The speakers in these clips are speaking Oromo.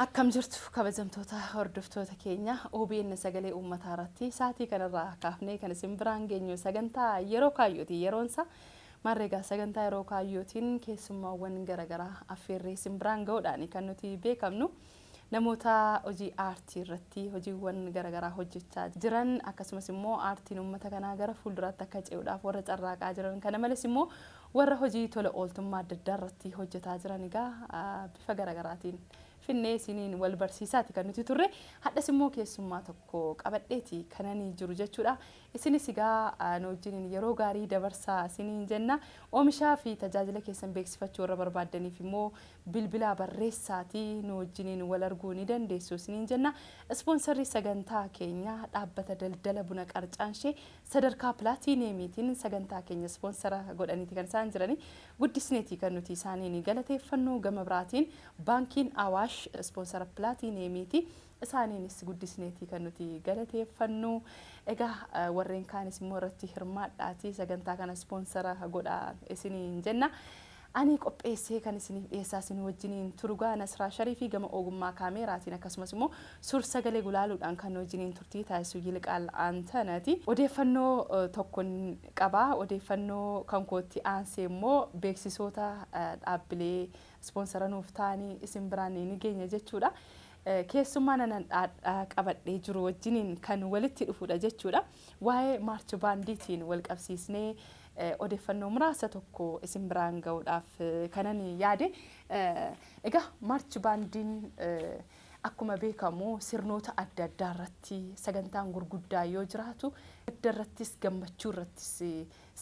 Akkam jirtu kabajamtoota hordoftoota keenya OBN sagalee uummataa irratti sa'aatii kanarraa kaafnee kan isin biraan geenyu sagantaa yeroo kaayyooti yeroonsa marreegaa sagantaa yeroo kaayyootiin keessummaawwan garaagaraa affeerree isin biraan ga'uudhaan kan nuti beekamnu namoota hojii aartii irratti hojiiwwan garaagaraa hojjechaa jiran akkasumas immoo aartiin uummata kanaa gara fuulduraatti akka ce'uudhaaf warra carraaqaa jiran kana malees immoo Warra hojii tola ooltummaa adda addaa irratti hojjetaa jiran egaa bifa gara garaatiin finnee isiniin wal barsiisaati kan nuti turre. Hadhas immoo keessummaa tokko qabadheeti kananii jiru jechuudha. Isinis egaa nu wajjiniin yeroo gaarii dabarsaa isiniin jenna. Oomishaa fi tajaajila keessan beeksifachuu warra barbaaddaniif immoo bilbilaa barreessaati nu wajjiniin wal arguu ni dandeessu isiniin jenna. Ispoonsarri sagantaa keenyaa dhaabbata daldala buna qarcaanshee Sadarkaa Pilaatiiniyeemiitiin sagantaa keenya ispoonsara godhaniiti kan isaan jiranii. Guddisneeti kan nuti isaaniin galateeffannu. Gama biraatiin Baankiin Awaash ispoonsara Pilaatiiniyeemiiti. Isaaniinis guddisneeti kan nuti galateeffannu. Egaa warreen kaanis immoo irratti hirmaadhaatii sagantaa kana ispoonsara godhaa isiniin jenna. Ani qopheessee kan isiniif dhiyeessaa isin wajjiniin turu gaa Nasraa Shariifi gama ogummaa kaameeraatiin akkasumas immoo suur sagalee gulaaluudhaan kan nu wajjiniin turtii taasisu Yiliqaal Antanati. Odeeffannoo tokkon qaba. Odeeffannoo kan kootti aansee immoo beeksisoota dhaabbilee ispoonsara nuuf ta'anii isin biraan ni geenya jechuudha. Keessummaan anan dhaadhaa qabadhee jiru wajjiniin kan walitti dhufudha jechuudha. Waa'ee Maarch Baandiitiin wal qabsiisnee Odeeffannoo muraasa tokko isin biraan ga'uudhaaf kanan yaade, egaa Maarch Baandiin akkuma beekamu sirnoota adda addaa irratti sagantaan gurguddaa yoo jiraatu, gadda irrattis gammachuu irrattis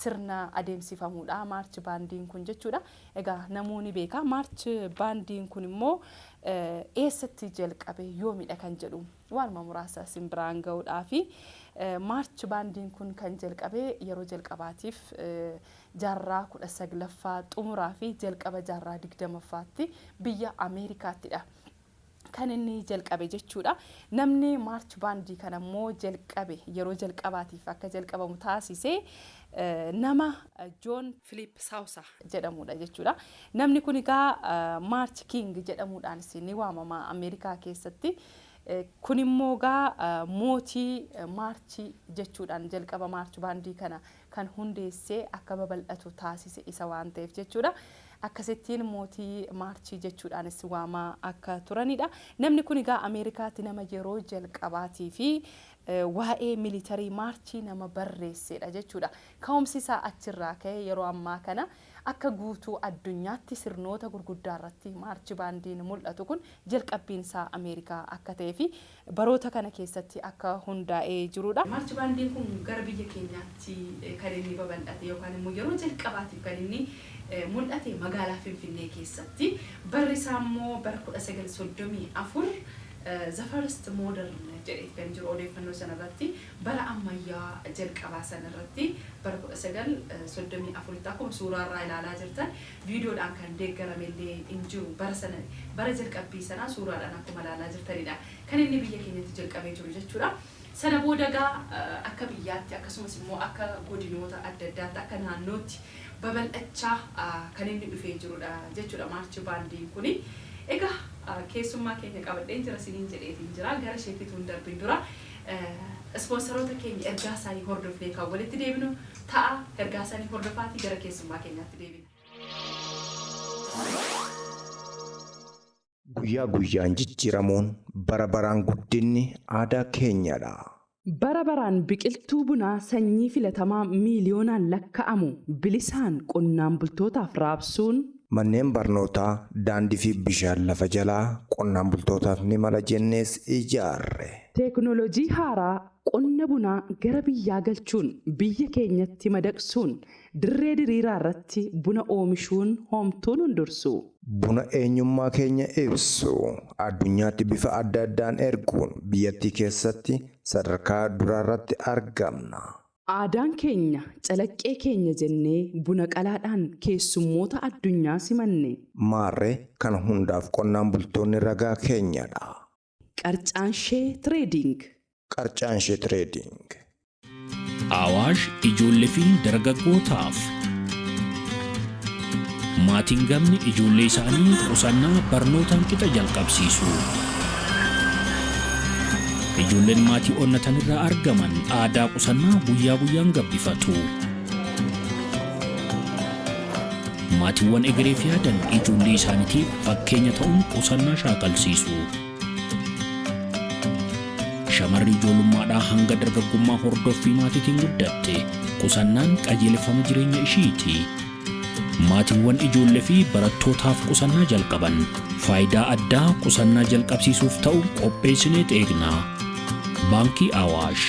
sirna adeemsifamuudha Maarch Baandiin kun jechuudha. Egaa namuu ni beeka. Maarch Baandiin kun immoo eessatti jalqabe? Yoomidha kan jedhu Waanuma muraasa isin biraan ga'uudhaafi. Maarch baandiin kun kan jalqabe yeroo jalqabaatiif jaarraa 19ffaa xumuraa fi jalqaba jaarraa 20ffaatti biyya Ameerikaattidha kan inni jalqabe jechuudha. Namni maarch baandii kana immoo jalqabe yeroo jalqabaatiif akka jalqabamu taasise nama Joon Filiip Saawusa jedhamudha jechuudha. Namni kun egaa maarch kiing jedhamuudhaanis ni waamama Ameerikaa keessatti. Kun immoo egaa mootii Maarchi jechuudhaan jalqaba Maarch baandii kana kan hundeessee akka babal'atu taasise isa waan ta'eef jechuudha. Akkasittiin mootii Maarchii jechuudhaanis waamaa akka turanidha. Namni kun egaa Ameerikaatti nama yeroo jalqabaatii fi waa'ee militarii Maarchii nama barreessedha jechuudha. Ka'umsi isaa achirraa ka'e yeroo ammaa kana Akka guutuu addunyaatti sirnoota gurguddaarratti Maarchi Baandiin mul'atu kun jalqabbiinsaa Ameerikaa akka ta'eefi baroota kana keessatti akka hundaa'ee jiruudha. Maarchi Baandiin kun gara biyya keenyaatti kan inni babal'ate yookaan immoo yeroo jalqabaatiif kan inni mul'ate magaalaa Finfinnee keessatti. Barri isaa immoo bara 1934 The First Modern jedheeti kan jiru odeeffannoo sana irratti. Bara ammayyaa jalqabaa sana irratti, bara 1934tti akkuma suuraa irraa ilaalaa jirtan, viidiyoodhaan kan deeggarame illee hin jiru. Bara sana, bara jalqabbii sanaa suuraadhaan akkuma ilaalaa jirtani dha kan inni biyya keenyatti jalqabee jiru jechuu dha. Sana booda egaa akka biyyaatti akkasumas immoo akka godinoota adda addaatti, akka naannootti babal'achaa kan inni dhufee jiru dha jechuu dha Maarchi Baandiin kuni. Egaa keessummaa keenya qabadheen jira isiniin jedheetiin jira. Gara isheetti utuu hin darbin dura, Ispoonsaroota keenya ergaa isaanii hordofnee kan walitti deebinu ta'a. Ergaa isaanii hordofaatii gara keessummaa keenyaatti deebina. Guyyaa guyyaan jijjiiramuun, bara baraan guddinni aadaa keenyadha! Bara baraan biqiltuu bunaa sanyii filatamaa miiliyoonaan lakka'amu bilisaan qonnaan bultootaaf raabsuun Manneen barnootaa, daandii fi bishaan lafa jalaa qonnaan bultootaaf ni mala jennees ijaarre. Teeknoolojii haaraa qonna bunaa gara biyyaa galchuun biyya keenyatti madaqsuun dirree diriiraa irratti buna oomishuun hoomtuu nun dursu. Buna eenyummaa keenya ibsu addunyaatti bifa adda addaan erguun biyyattii keessatti sadarkaa duraarratti argamna. Aadaan keenya calaqqee keenya jennee buna qalaadhaan keessummoota addunyaa simanne. Maarree kana hundaaf qonnaan bultoonni ragaa keenyadha. Qarcaanshee Trading. Qarcaanshee Trading. Awaash ijoollee fi dargaggootaaf. Maatiin gamni ijoollee isaanii qusannaa barnootaan qixa jalqabsiisu. Ijoolleen maatii onnatan irraa argaman aadaa qusannaa guyyaa guyyaan gabbifatu. Maatiiwwan egereef yaadan ijoollee isaaniitiif fakkeenya ta'uun qusannaa shaakalsiisu. Shamarri ijoollummaadhaa hanga dargaggummaa hordoffii maatiitiin guddatte qusannaan qajeelfama jireenya ishiiti. Maatiiwwan ijoollee fi barattootaaf qusannaa jalqaban faayidaa addaa qusannaa jalqabsiisuuf ta'u qopheessinee eegna. Baankii Awaash.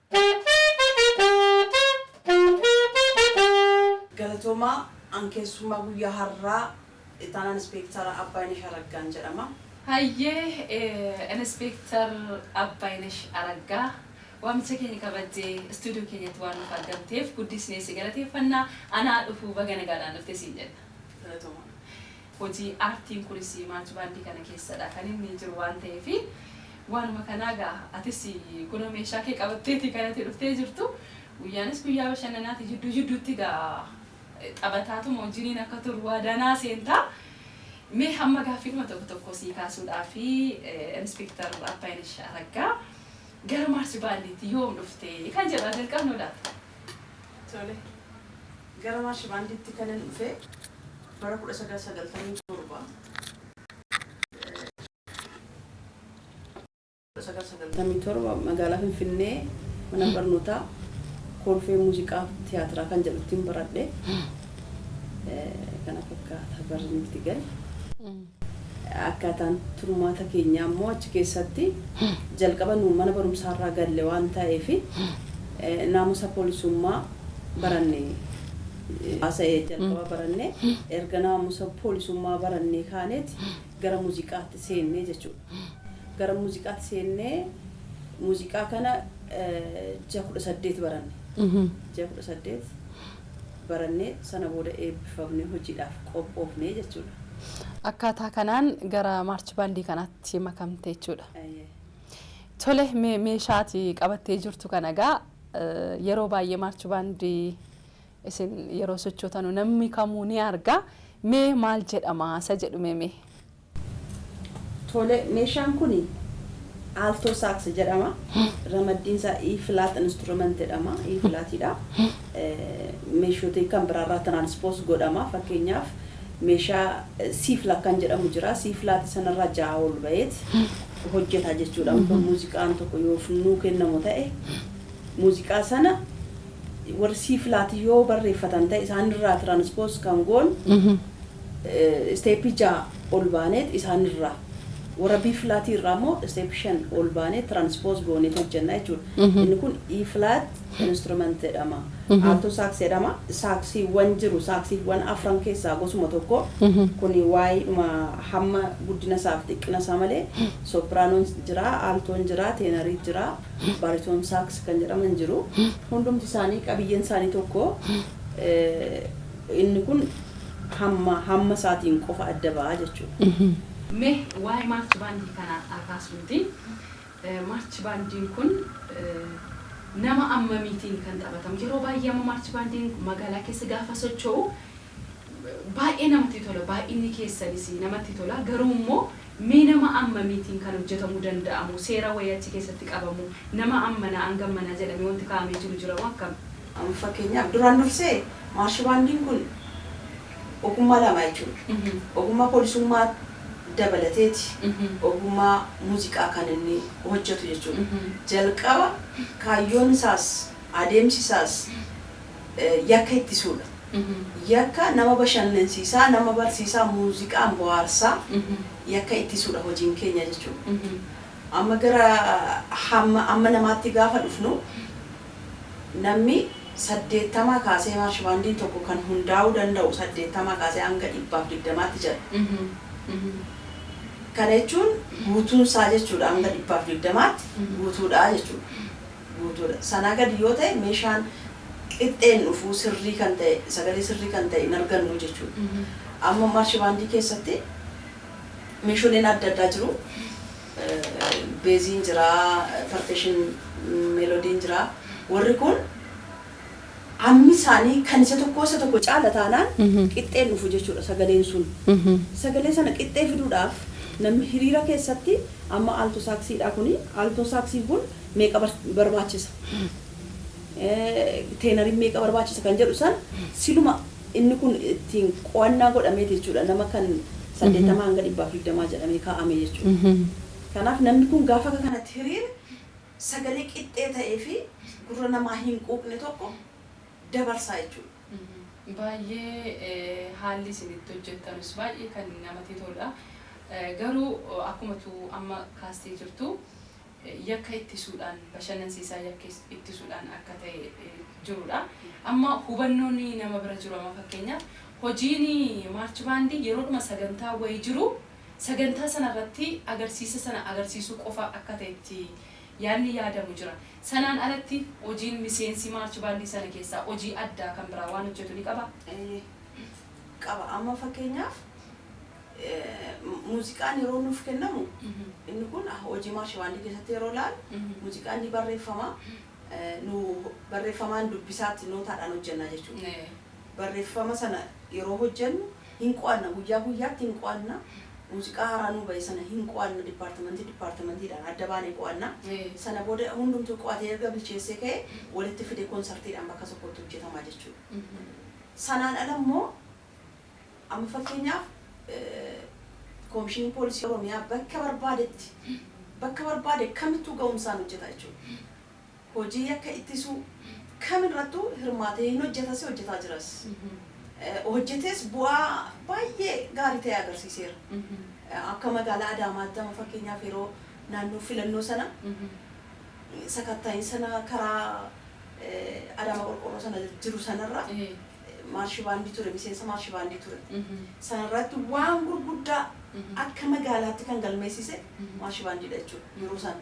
Galatoomaa, an keessummaa guyyaa har'aa Ittaanaa Inspeektara Abbaayinesh Araggaan jedhama. Hayyee, Inspeektar Abbaayinesh Araggaa, waamicha keenya kabajjee istuudiyoo keenyatti waan nuuf argamteef guddisnee si galateeffanna. Anaa dhufuu baga nagaadhaan dhufte siin jenna. Galatoomaa. Hojii aartiin kunis March Band kana keessadha kan inni jiru waan ta'eef waanuma kanaa egaa atis kunoo meeshaa kee qabatteeti kan ati dhuftee jirtu. Guyyaanis guyyaa bashannanaati jidduu jidduutti egaa taphataatuma wajjiniin akka turu waadaa naa seenta. Mee hamma gaaffiidhuma tokko tokko sii kaasuudhaafi Inspector Abbaayinash Araggaa gara March Band tti yoom dhufte kan jedhu haa jalqabnuu laata? Tole. Gara Maarshi Baandiitti kanan dhufe bara 1997 1997 magaalaa Finfinnee mana barnootaa Kolfee Muuziqaa Tiyaatiraa kan jedhuttiin baradhe. Kana fakkaata barri nutti gale. Akkaataan turmaata keenyaa immoo achi keessatti jalqaba nu mana barumsaa irraa galle waan taeef naamusa poolisummaa baranne. Haasa'e jalqaba baranne. Erga naamusa poolisummaa barannee kaaneeti gara muuziqaatti seenne jechuudha. Gara muuziqaatti seennee muuziqaa kana ji'a 18 baranne. Ji'a 18. barannee sana booda eebbifamnee hojiidhaaf qophoofne jechuudha. Akkaataa kanaan gara maarch baandii kanaatti makamte jechuudha. Eeyyee. Tole mee meeshaa ati qabattee jirtu kana egaa eh, yeroo baay'ee maarch baandii isin yeroo sochootanu namni kamuu ni arga mee maal jedhama isa jedhu mee mee Tole, meeshaan kun Alto Sax jedhama. Ramaddiin isaa E flat instrument jedhama. E flat dha. Meeshota kan biraa irraa transpose godhama. Fakkeenyaaf meeshaa C flat kan jedhamu jira. C flat sana irraa ja'a ol ba'eet hojjeta jechuudha. Amma muuziqaan tokko yoo nuu kennamu ta'e muuziqaa sana warri C flat yoo barreeffatan ta'e isaan irraa transpose kan goonu step 6 ol baaneet isaan irraa warra B flat irraa immoo step 5 ol baanee transpose gooneet hojjenna jechuudha. Inni kun E flat instrument jedhama. Alto sax jedhama. Saaksiiwwan jiru saaksiiwwan afran keessaa gosuma tokko. Kun waa'eedhuma hamma guddina isaa fi xiqqina isaa malee sopraanoon jira, altoon jira, teenarii jira, bariton sax kan jedhaman jiru. Hundumti isaanii qabiyyeen isaanii tokko. Inni kun hamma hamma isaatiin qofa adda ba'a jechuudha. Mee waa'ee maarchi baandii kanaa haa kaasnuuti. Maarchi baandiin kun nama ammamiitiin kan taphatamu? Yeroo baay'ee amma maarchi baandiin magaalaa keessa gaafa socho'u baay'ee namatti tola. Baay'inni keessanis namatti tola. Garuu immoo Mee nama ammamiitiin kan hojjetamuu danda'amoo seera wayii achi keessatti qabamoo nama ammanaa hanga ammanaa jedhamee wanti kaa'amee jiru jiramoo akkam? Fakkeenyaaf duraan dursee maarshibaandiin kun ogummaa lama jechuudha. Ogummaa poolisummaa dabalateeti ogummaa muuziqaa kan inni hojjetu jechuudha. Jalqaba kaayyoon isaas adeemsi isaas. yakka ittisuudha. Yakka nama bashannansiisaa, nama barsiisaa, muuziqaan bohaarsaa yakka ittisuudha hojiin keenya jechuudha. Amma gara hamma amma namaatti gaafa dhufnu namni saddeettamaa kaasee maarshibaandiin tokko kan hundaa'uu danda'u saddeettamaa kaasee hanga dhibbaaf digdamaatti jira. Kana jechuun guutuunsaa jechuudha hanga dhibbaaf digdamaatti guutuudha jechuudha. guutuu dha. Sanaa gadi yoo ta'e meeshaan qixxee hin dhufu, sirrii kan ta'e, sagalee sirrii kan ta'e hin argannu jechuu dha. Amma March Band keessatti meesholeen adda addaa jiru. Beeziin jira, percussion, melodiin jira. Warri kun. Hammi isaanii kan isa tokkoo isa tokko caala taanaan qixxeen dhufu jechuudha sagaleen sun. Sagalee sana qixxee fiduudhaaf namni hiriira keessatti amma alto saxii dha kuni alto saxii kun meeqa barbaachisa? Teenariin meeqa barbaachisa kan jedhu san siluma inni kun ittiin qo'annaa godhameeti jechuudha nama kan 80-120 jedhamee kaa'ame jechuudha. Kanaaf namni kun gaafa akka kanatti hiriire sagalee qixxee ta'ee fi gurra namaa hin quuqne tokko dabarsaa jechuudha. Baay'ee haalli isin itti hojjettanus baay'ee kan namati toludha. Garuu akkuma tu amma kaastee jirtu yakka ittisuudhaan bashannansiisaa yakka ittisuudhaan akka ta'e jirudha. Amma hubannoon nama bira jiru amma fakkeenyaaf hojiin maarch baandii yeroodhuma sagantaa wayii jiru Sagantaa sana irratti agarsiisa sana agarsiisuu qofa akka ta'etti yaadni yaadamu jira. Sanaan alatti hojiin miseensi Maarch Baandii sana keessaa hojii addaa kan biraa waan hojjetu ni qabaa? Eeyyee qaba. Amma fakkeenyaaf muuziqaan yeroo nuuf kennamu inni kun hojii Maarch Baandii keessatti yeroo ilaallu muuziqaan ni barreeffama, nu barreeffamaan dubbisaatti nootaadhaan hojjenna jechuudha. Barreffama sana yeroo hojjennu hin qo'anna. Guyyaa guyyaatti hin qo'anna. Muuziqaa haaraa nuu ba'e sana hin qo'anna. Dippaartimantii dippaartimantiidhaan adda baanee qo'anna. Sana booda hundumtuu qo'atee erga bilcheessee ka'ee walitti fidee konsartiidhaan bakka tokkotti hojjetama jechuudha. Sanaan ala immoo amma fakkeenyaaf Koomishiniin Poolisii Oromiyaa bakka barbaadetti bakka barbaade kamittuu ga'umsaan hojjeta jechuudha. hojii yakka ittisuu kam irrattuu hirmaatee hin hojjetas hojjetaa jiras. Hojjetees bu'aa baay'ee gaarii ta'e agarsiiseera. Akka magaalaa Adaamaatti amma fakkeenyaaf yeroo naannoo filannoo sana sakatta'iin sana karaa Adaamaa Qorqoorroo sana jiru sanarra maarshibaandii ture miseensa maarshibaandii ture. Sanarratti waan gurguddaa akka magaalaatti kan galmeessise maarshibaandiidha jechuudha yeroo sana.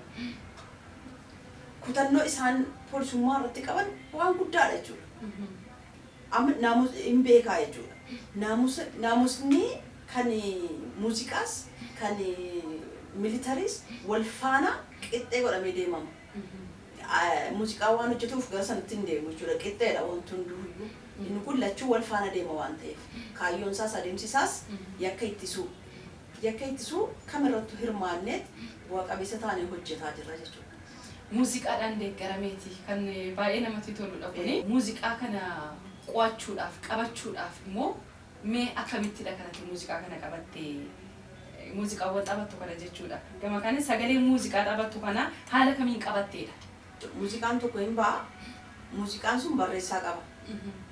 kutannoo isaan poolisummaa irratti qaban waan guddaadha jechuudha. Amma naamus hin beekaa jechuudha. Naamusa naamusni kan muuziqaas kan militariis wal faana qixxee godhamee deemama. Ah, Muuziqaa waan hojjetuuf gara sanatti hin deemu jechuudha. Qixxeedha wanti hunduuyyuu. Inni kun lachuu wal faana deema waan ta'eef. Kaayyoon isaas adeemsi isaas yakka ittisuu. Yakka ittisuu kam irrattu hirmaanneet bu'a qabeessa taanee hojjetaa jirra jechuudha. Muuziqaadhaan deeggarameeti kan baay'ee namatti toludha kuni. Muuziqaa kana qo'achuudhaaf, qabachuudhaaf immoo mee akkamittidha kan ati muuziqaa kana qabatte? Muuziqaawwan taphattu kana jechuudha. Gama kanaan sagalee muuziqaa taphattu kana haala kamiin qabatteedha? Muuziqaan tokko hin ba'a. Muuziqaan sun barreessaa qaba.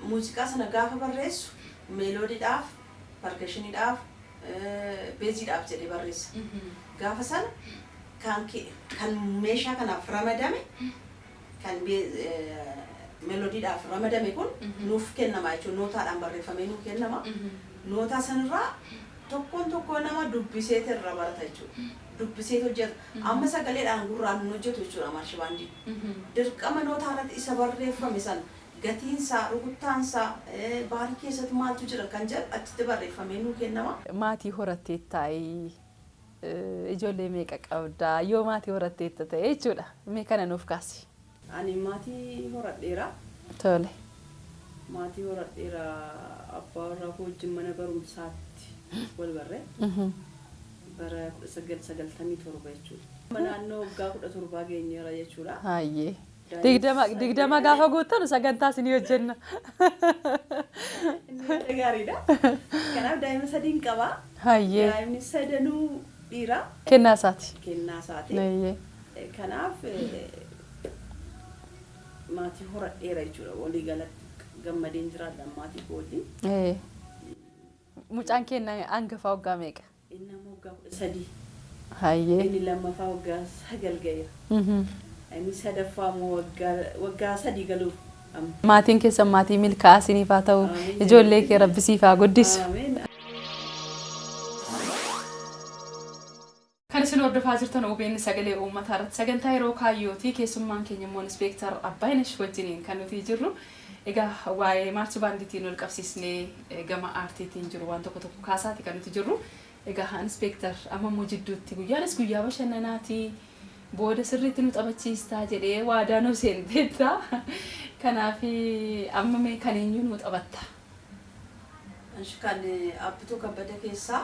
Muuziqaa sana gaafa barreessu meeloodiidhaaf, pargashiniidhaaf, beeziidhaaf jedhee barreessa. Gaafa sana kan kan meeshaa kanaaf ramadame kan melodiidhaaf ramadame kun nuuf kennama jechuudha. Nootaadhaan barreeffamee nuu kennama. Nootaa sanirraa tokkoon tokkoo nama dubbisee irra barata jechuudha. Dubbisee hojjeta. Amma sagaleedhaan gurraan hin hojjetu jechuudha maarshibaandiin. Dirqama nootaa irratti isa barreeffame sana gatiin isaa, rukuttaan isaa, baarii keessatti maaltu jira kan jedhu achitti barreeffamee nuu kennama. Maatii horatteettaayi? Ijoollee meeqa qabda? Yoo maatii horatteetta ta'e jechuudha. Mee kana nuuf kaasi. Ani maatii horadheera. Tole. Maatii horadheera. Abbaa warraa koo wajjin mana barumsaatti wal barre. Bara 1997 jechuudha. Amma naannoo waggaa 17 geenyeera jechuudha. Hayyee. Digdama digdama gaafa guuttanu sagantaa isinii hojjenna. Inni yaada gaariidha. Kanaaf daa'ima sadiin qaba. Hayyee Daa'imni sadanuu dhiira kennaa isaati. kennaa isaati. Hayyee. Kanaaf eh, maatii horadheera jechuudha. Walii galatti gammadeen jiraadha maatii koo wajjin. Ee. Mucaan keenya hangafaa waggaa meeqa? Inni amma waggaa 13. Hayyee. Inni lammaffaa waggaa 9 ga'eera. Inni sadaffaa immoo waggaa waggaa 3 galuuf amma. Maatiin keessan maatii milkaa'aa isiniif haa ta'u. Amiin. Ijoollee kee rabbi siif haa guddisu. Ameen. Kan isin hordofaa jirtan obn sagalee uummataa irratti sagantaa yeroo kaayyooti. Keessummaan keenya immoo Inspeektar Abbaayinesh wajjiniin kan nuti jirru. Egaa waa'ee Maarchi Baandiitiin walqabsiisnee gama aartiitiin jiru waan tokko tokko kaasaati kan nuti jirru. Egaa Inspeektar amma immoo jidduutti guyyaanis guyyaa bashannanaati, booda sirriitti nu taphachiistaa jedhee waadaa nuu seenteetta. Kanaaf amma mee kan eenyuu nuu taphatta? Eshi kan Abbituu Kabbada keessaa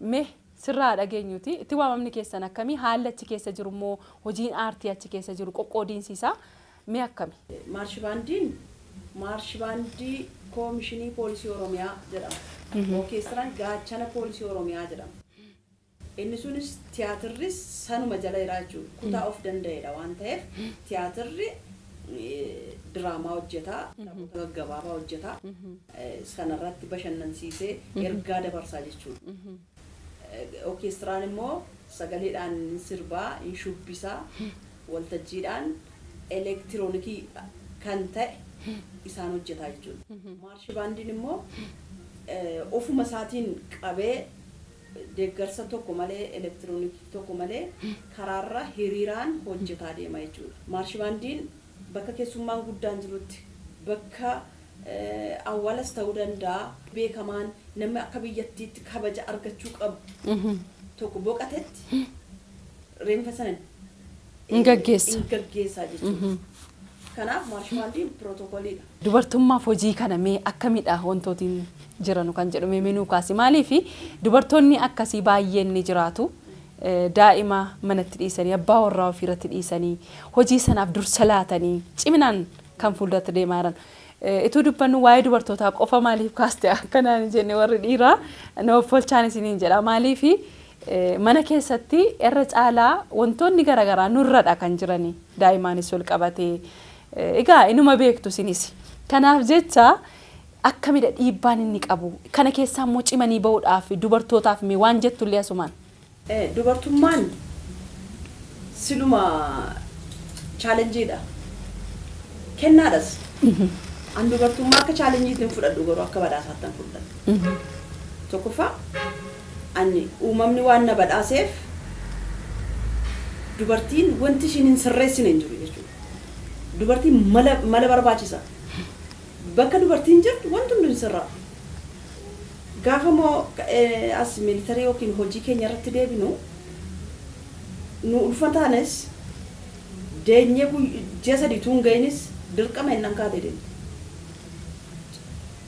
Mee sirraa haa dhageenyuutii, itti waamamni keessan akkami? Haalli achi keessa jiru immoo, hojiin aartii achi keessa jiru qoqqoodiinsi isaa mee akkami? Maarshi Baandiin Maarshi Baandii Koomishinii Poolisii Oromiyaa jedhama. Orkeestiraan Gaachana Poolisii Oromiyaa jedhama. Inni sunis tiyaatirris sanuma jala jira jechuudha. Kutaa of danda'eedha waan ta'eef tiyaatirri diraamaa hojjeta, taphoota gaggabaabaa hojjeta. sana irratti bashannansiisee ergaa dabarsaa jechuudha. Okeestiraan immoo sagaleedhaan hin sirbaa, hin shubbisa, waltajjiidhaan elektiroonikii kan ta'e isaan hojjetaa jechuudha. Maarshi baandiin immoo ofuma isaatiin qabee deeggarsa tokko malee, elektiroonikii tokko malee karaarra hiriiraan hojjetaa deema jechuudha. Maarshi baandiin bakka keessummaan guddaan jirutti, bakka awwaalas ta'uu danda'a. beekamaan namni akka biyyattiitti kabaja argachuu qabu tokko boqatetti reenfa sana Hin gaggeessa. hin gaggeessaa jechuudha. Kanaaf maarshibaandiin pirootokooliidha. Dubartummaaf hojii kana mee akkamidha wantootiin jiranu kan jedhu mee nuu kaasi. Maaliif dubartoonni akkasii baay'een ni jiraatu. Eh, Daa'ima manatti dhiisanii, abbaa warraa ofiirratti dhiisanii, hojii sanaaf dursa laatanii ciminaan kan fuulduratti deemaa jiran. Ituu dubbannu waa'ee dubartootaa qofa maaliif kaaste akkanaan hin jenne warri dhiiraa na offolchaan isiniin jedha. Maaliif mana keessatti irra caalaa wantoonni garaagaraa nurradha kan jirani daa'imaanis ol qabatee egaa inuma beektu isinis. Kanaaf jecha akkamidha dhiibbaan inni qabu kana keessaa immoo cimanii ba'uudhaaf dubartootaaf mee waan jettullee asumaan. Dubartummaan siluma challenge dha. Kennaadhas. An dubartummaa akka challenge tti hin fudhadhu garuu akka badhaasaattan fudhadha. Tokkoffaa an uumamni waan na badhaaseef dubartiin wanti ishiin hin sirreessine hin jiru jechuudha. Dubartiin mala mala barbaachisa. Bakka dubartiin jirtu wanti hunduu hin sirraa'u. Gaafa immoo as military yookiin hojii keenya irratti deebinu nu ulfataanis deenyee ji'a sadii utuu hin ga'inis dirqama jennaan kaatee deemte.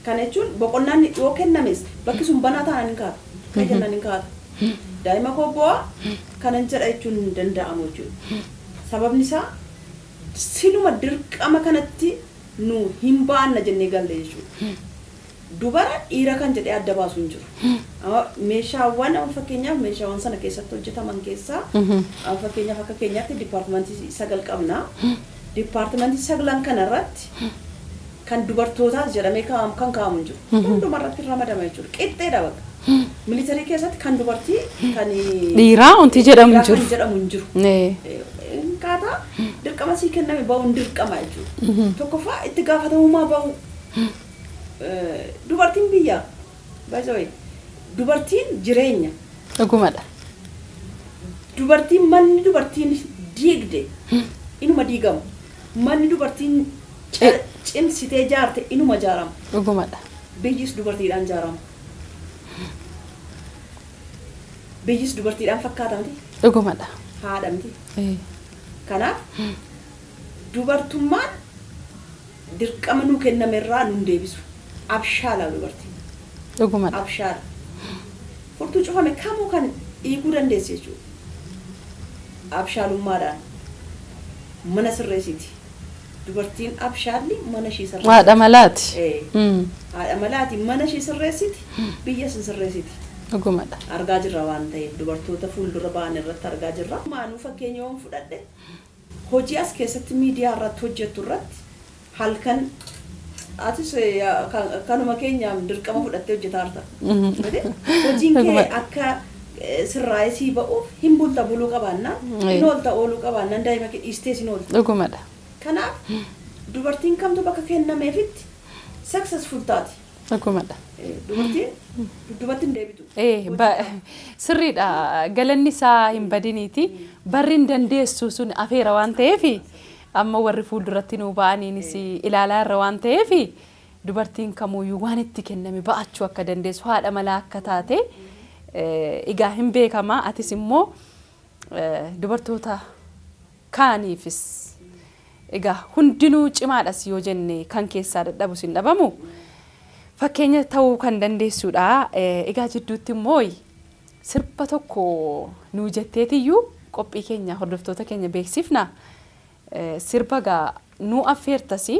Kana jechuun boqonnaan yoo kennames bakki sun banaa taanaan hin kaatu. Ka'e jennaan hin kaatu. Daa'ima koo boo'a kanan jedha jechuun hin danda'amu jechuudha. Sababni isaa siluma dirqama kanatti nu hin ba'anna jennee galle jechuudha. Dubara dhiira kan jedhee adda baasu hin jiru. Amma meeshaawwan amma fakkeenyaaf meeshaawwan sana keessatti hojjetaman keessaa amma fakkeenyaaf akka keenyaatti dipaartimantii sagal qabna. Dipaartimantii saglan kana irratti kan dubartootaas jedhamee kaa'amu kan kaa'amu hin jiru. Hunduma irratti ramadama jechuudha. Qixxeedha bakka. Militarii keessatti kan dubartii kan Dhiiraa wanti jedhamu hin dhiiraa kan jiru. jedhamu hin jiru. Ee, Akkaataa dirqama sii kenname ba'uun dirqama jechuudha. Tokkoffaa itti gaafatamummaa ba'uu. Dubartiin biyyaa by the way dubartiin jireenya. Dhugumadha. Dubartiin manni dubartiin diigde inuma diigama. Manni dubartiin ca- cimsitee jaarte inuma jaarama. Dhugumadha. Biyyis dubartiidhaan jaarama. Biyyis dubartiidhaan fakkaata miti. Dhugumadha. Haadha miti. Ee. Kanaaf dubartummaan Dirqama nuu kenname irraa nun deebisu. Abshaala dubartiin. Dhuguma dha. Abshaala. Furtuu cufame kamuu kan hiikuu dandeessu jechuu dha. Abshaalummaadhaan mana sirreessiti. Dubartiin abshaalli mana ishii sirreessiti. Haadha malaati. Ee. Mm. Haadha malaati. Mana ishii sirreessiti, biyyas hin sirreessiti. Dhuguma dha. Argaa jirra waan ta'eef dubartoota fuuldura ba'an irratti argaa jirra. Maanuu fakkeenya yoon fudhadhe Hojii as keessatti miidiyaa irratti hojjettu irratti halkan atis kanuma keenya dirqama fudhattee hojjetaarta. Hojiin kee akka sirraa'ee sii ba'uuf hin bulta buluu qabaannaan hin oolta ooluu qabaannaan daa'ima kee dhiistees hin oolta. Dhugumadha. Kanaaf dubartiin kamtu bakka kennameefitti successful taati. Dhugumadha. Dubartiin dudduubatti hin deebitu. Eh, ba- sirriidha galanni isaa hin badiniiti barri hin dandeessu sun afeera waan ta'eef amma warri fuulduratti nuu ba'aniinis ilaalaa irra waan ta'eef dubartiin kamuuyyuu waan itti kenname ba'achuu akka dandeessu haadha malaa akka taate eh, egaa hin beekama atis immoo eh, dubartoota kaaniifis. Egaa hundinuu cimaadhas yoo jenne kan keessaa dadhabus hin dhabamu. Fakkeenya ta'uu kan dandeessuudha. Egaa jidduutti immoo sirba tokko nuu jetteetiyyuu qophii keenya hordoftoota keenya beeksifna. Sirba egaa nuu affeertasi.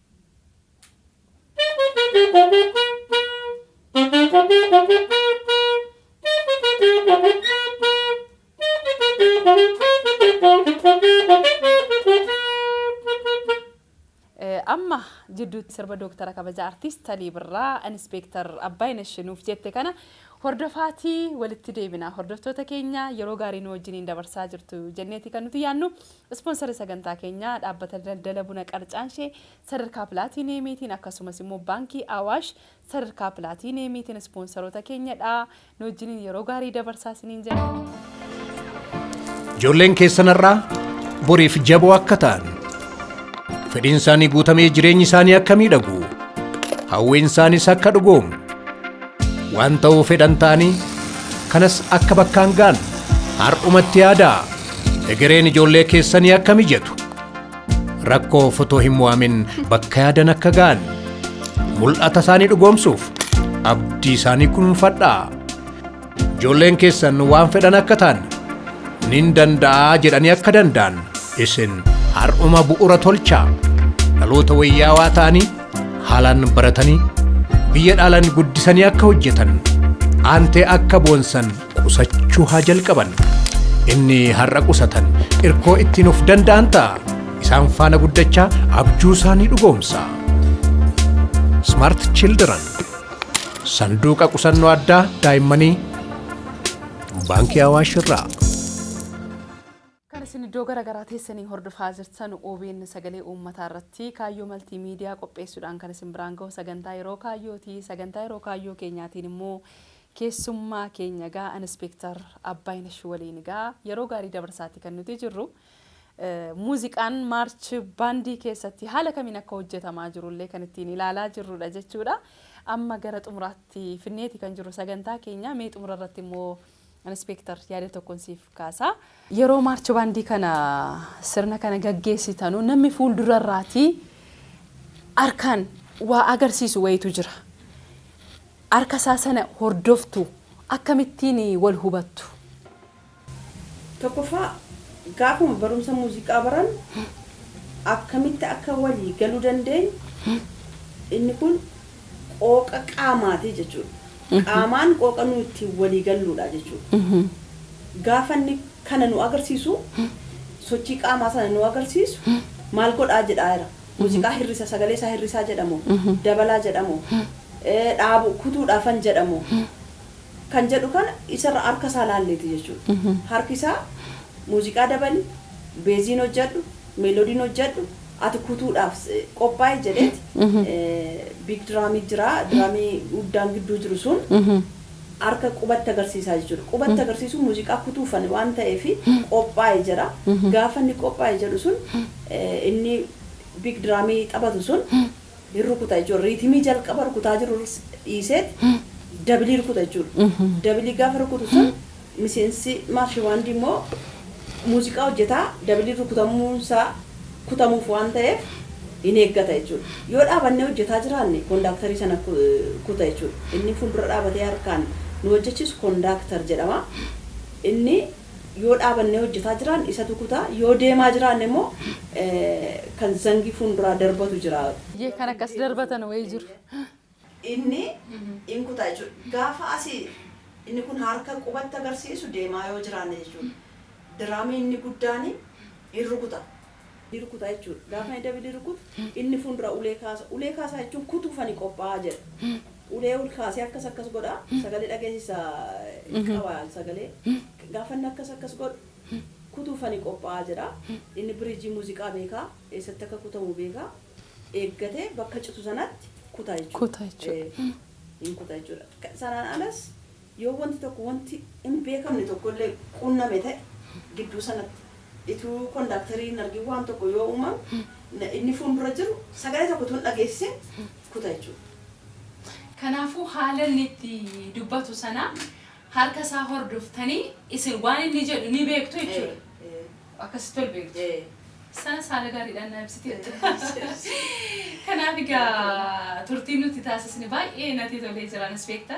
Amma jidduutti sirba Dooktara Kabajaa Artiist Alii Birraa Inispeektar Abbaayinesh nuuf jette kana hordofaatii walitti deebina. Hordoftoota keenya yeroo gaarii nu wajjiniin dabarsaa jirtu jenneeti kan nuti yaannu. Ispoonsarri sagantaa keenyaa dhaabbata daldala buna qarcaanshee sadarkaa pilaatiiniyeemiitiin akkasumas immoo Baankii Awaash sadarkaa pilaatiiniyeemiitiin ispoonsaroota keenya dha. Nu wajjiniin yeroo gaarii dabarsaa isiniin jenna. Ijoolleen keessan har'aa boriif jaboo akka ta'an, fedhiin isaanii guutamee jireenyi isaanii akka miidhagu, hawwiin isaaniis akka dhugoomu, Waan ta'uu fedhan ta'anii kanas akka bakkaan ga'an har'umatti yaadaa egereen ijoollee keessanii akka mijatu rakkoo fotoo hin mo'amin bakka yaadan akka ga'an mul'ata isaanii dhugoomsuuf abdii isaanii kunuunfadhaa ijoolleen keessan waan fedhan akka ta'an nin danda'aa jedhanii akka danda'an isin har'uma bu'ura tolchaa dhaloota wayyaawaa ta'anii Haalaan baratanii biyya dhaalan guddisanii akka hojjetan aantee akka boonsan qusachuu haa jalqaban. Inni har'a qusatan irkoo ittiin of danda'an ta'a. Isaan faana guddachaa abjuu isaanii dhugoomsa. Smart Children sanduuqa qusannoo addaa daa'immanii baankii Awaash irraa. Kan isin iddoo gara garaa teessanii hordofaa jirtan obn Sagalee Uummataa irratti Kaayyoo Maltii Miidiyaa qopheessuudhaan kan isin biraan gahu Sagantaa Yeroo Kaayyoo ti. Sagantaa Yeroo Kaayyoo keenyaatiin immoo keessummaa keenya egaa Inispeektar Abbaayinash waliin egaa yeroo gaarii dabarsaa ti kan nuti jirru. Muuziqaan Maarch Baandii keessatti haala kamiin akka hojjetamaa jiru illee kan ittiin ilaalaa jirru dha jechuu dha. Amma gara xumuraatti finnee ti kan jirru sagantaa keenya. Mee xumura irratti immoo Inispeektar, yaada tokkon siif kaasa. Yeroo Maarch Baandii kana sirna kana gaggeessitanu namni fuuldurarraatii harkaan waa agarsiisu wayiitu jira. Harka isaa sana hordoftu? Akkamittiin wal hubattu? Tokkoffaa gaafuma barumsa muuziqaa barannu akkamitti akka walii galuu dandeenyu inni kun. qooqa qaamaati jechuudha. Qaamaan qooqa nu ittiin walii galluudha jechuudha. Gaafa inni kana nu agarsiisu sochii qaamaa sana nu agarsiisu maal godhaa jedhaa jira. Muuziqaa hirrisa sagalee isaa hirrisaa jedhamoo dabalaa jedhamoo dhaabu kutuudhaafan jedhamoo kan jedhu kana isarra harka isaa laalleeti jechuudha. Harki isaa muuziqaa dabali, beeziin hojjedhu, meeloodiin hojjedhu, ati kutuudhaaf qophaa'i jedheet biig diraamii jira diraamii guddaan gidduu jiru sun harka qubatti agarsiisaa jechuudha qubatti agarsiisuu muuziqaa kutuufan waan ta'eef qophaa'i jedha gaafa inni qophaa'i jedhu sun inni biig diraamii taphatu sun hin rukuta jechuudha. Riitimii jalqaba rukutaa jiru rs- dhiiseeti dabilii rukuta jechuudha. Dabilii gaafa rukutu sun miseensi maarshi baandii immoo muuziqaa hojjetaa dabilii rukutamuun isaa kutamuuf waan ta'eef hin eeggata jechuudha. Yoo dhaabannee hojjetaa jiraanne kondaaktarii sana ku- kuta jechuudha. Inni fuuldura dhaabatee harkaan nu hojjechiisu kondaaktar jedhama. Inni yoo dhaabannee hojjetaa jiraan isatu kuta yoo deemaa jiraanne immoo kan zangii fuunduraa darbatu jira. Ye kan akkas darbatan wayii jiru. inni in kuta jechuudha. Gaafa asi inni kun harka qubatti agarsiisu deemaa yoo jiraanne jechuudha. Diraamii inni guddaani in rukuta. ni rukuta jechuudha. Gaafa ani David rukutu inni fuundura ulee kaasa. Ulee kaasaa jechuun kutuuf ani qophaa'a jedha. Ulee ol kaasee akkas akkas godha. Sagalee dhageessisa qaba sagalee. Gaafa inni akkas akkas godhu kutuuf ani qophaa'a jedha. Inni biriijii muuziqaa beeka. Eessatti akka kutamu beeka. Eeggatee bakka citu sanatti kuta jechuudha. Kuta jechuudha. Ee, hin kuta jechuudha. Ka- Sanaan alas Yoo wanti tokko wanti hin beekamne tokko illee qunname ta'e gidduu sanatti ituu kondaaktarii hin argin waan tokko yoo uumame inni fuundura jiru sagalee tokko utuu hin dhageessisin kuta jechuudha. Kanaafuu haala inni itti dubbatu sana harka isaa hordoftanii isin waan inni jedhu ni beektu jechuudha. Ee, ee, Akkasitti ol beektu. ee. Sanas haala gaariidhaan na ibsiteetta. Kanaaf egaa turtiin nuti taasisne baay'ee natti tolee jira anis beekta.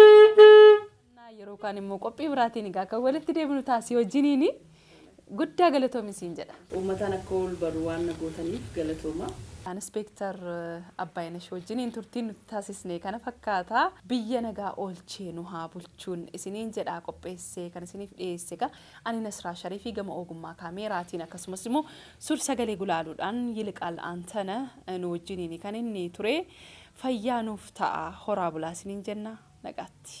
Innaa yeroo kaan immoo qophii biraatiin egaa kan walitti deebinu taasii wajjiniini guddaa galatoomi siin jedha. Uummataan akka ol baru waan na gootaniif galatoomaa. Inspektar Abbaayinash wajjiniin turtiin nuti taasisne kana fakkaata. Biyya nagaa oolchee nu haa bulchuun isiniin jedha qopheessee kan isiniif dhiyeesse egaa ani Nasraa Sharifi gama oogummaa kaameeraatiin akkasumas immoo sur sagalee gulaaluudhaan Yiliqaal Antana nu wajjiniini kan inni ture fayyaa nuuf ta'a horaa bulaa isiniin jenna nagaatti.